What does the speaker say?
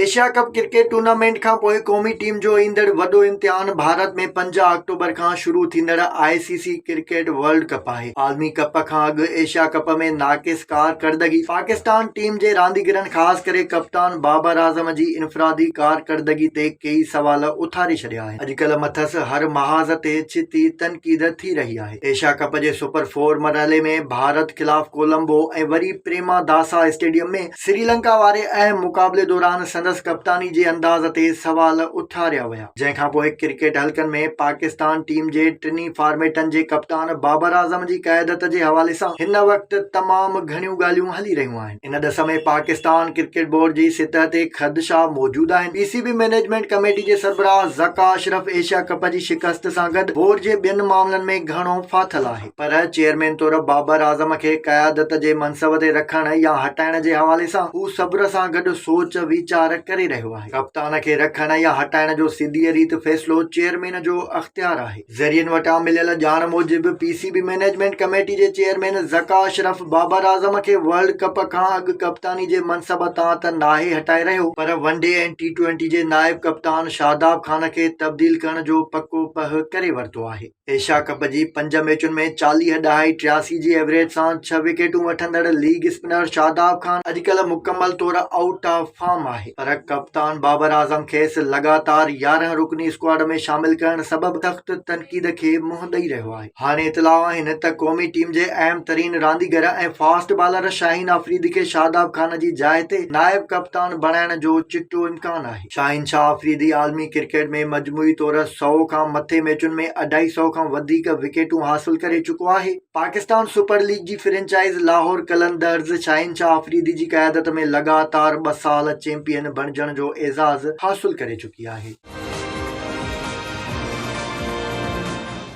Asia Cup cricket tournament کانپوء قومي team جو ايندڙ وڏو امتحان ڀارت ۾ پنج آڪٽوبر کان شروع ٿيندڙ I C C cricket World Cup آهي. عالمي ڪپ کان اڳ ايشيا ڪپ ۾ ناقص ڪارڪردگي پاڪستان ٽيم جي رانديگرن خاص ڪري ڪپتان بابر اعظم جي انفرادي ڪارڪردگي تي ڪيئي سوال اٿاري ڇڏيا آهن. اڄڪلهه مٿس هر محاذ تي ڇتي تنقيد ٿي رهي آهي. ايشيا ڪپ جي سپر فور مرحلي ۾ ڀارت خلاف ڪولمبو ۽ وري پريما داسا اسٽيڊيم ۾ سريلنڪا واري اهم مقابلي دوران سندس ڪپتاني جي انداز تي سوال اٿاريا ويا، جنهن کانپوء ڪرڪيٽ حلقن ۾ پاڪستان ٽيم جي ٽنهي فارميٽن جي ڪپتان بابر اعظم جي قيادت جي حوالي سان هن وقت تمام گهڻيون ڳالهيون هلي رهيون آهن، ان ڏس ۾ پاڪستان ڪرڪيٽ بورڊ جي سطح تي خدشا موجود آهن، P C B management committee جي سربراهه ذڪا اشرف ايشيا ڪپ جي شڪست سان گڏ بورڊ جي ٻين معاملن ۾ گهڻو ڦاٿل آهي. پر چيئرمين طور بابر اعظم کي قيادت جي منصب تي رکڻ يا هٽائڻ جي حوالي سان هو صبر سان گڏ سوچ ويچار ڪري رهيو آهي. ڪپتان کي رکڻ يا هٽائڻ جو سڌيء ريت فيصلو چيئرمين جو اختيار آهي. ذريعن وٽان مليل ڄاڻ موجب P C B management committee جي چيئرمين ذڪاء اشرف بابر اعظم کي ورلڊ ڪپ کان اڳ ڪپتاني جي منصب تان ته ناهي هٽائي رهيو پر ون ڊي ۽ ٽي ٽوئنٽي جي نائب ڪپتان شاداب خان کي تبديل ڪرڻ جو پڪو پهه ڪري ورتو آهي. ايشيا ڪپ جي پنج ميچن ۾ چاليهه ڏهائي ٽياسي جي ايوريج سان ڇهه وڪيٽون وٺندڙ ليگ اسپنر شاداب خان اڄڪلهه مڪمل طور آئوٽ آف فارم آهي پر ڪپتان بابر اعظم کيس لڳاتار يارهن رڪني اسڪواڊ ۾ شامل ڪرڻ سبب سخت تنقيد کي منهن ڏئي رهيو آهي هاڻي اطلاع آهن ته قومي ٽيم جي اهم ترين رانديگر ۽ فاسٽ بالر شاهين آفريدي کي شاداب خان جي جاء تي نائب ڪپتان بڻائڻ جو چٽو امڪان آهي. شاهنشاهه آفريدي عالمي ڪرڪيٽ ۾ مجموعي طور سؤ کان مٿي ميچن ۾ اڍائي سؤ کان وڌيڪ وڪيٽون حاصل ڪري چڪو آهي. پاڪستان سپر ليگ جي فرنچائز لاهور قلندرز شاهنشاهه آفريدي جي قيادت ۾ لڳاتار ٻه سال چيمپيئن بڻجڻ جو اعزاز حاصل ڪري چڪي آهي.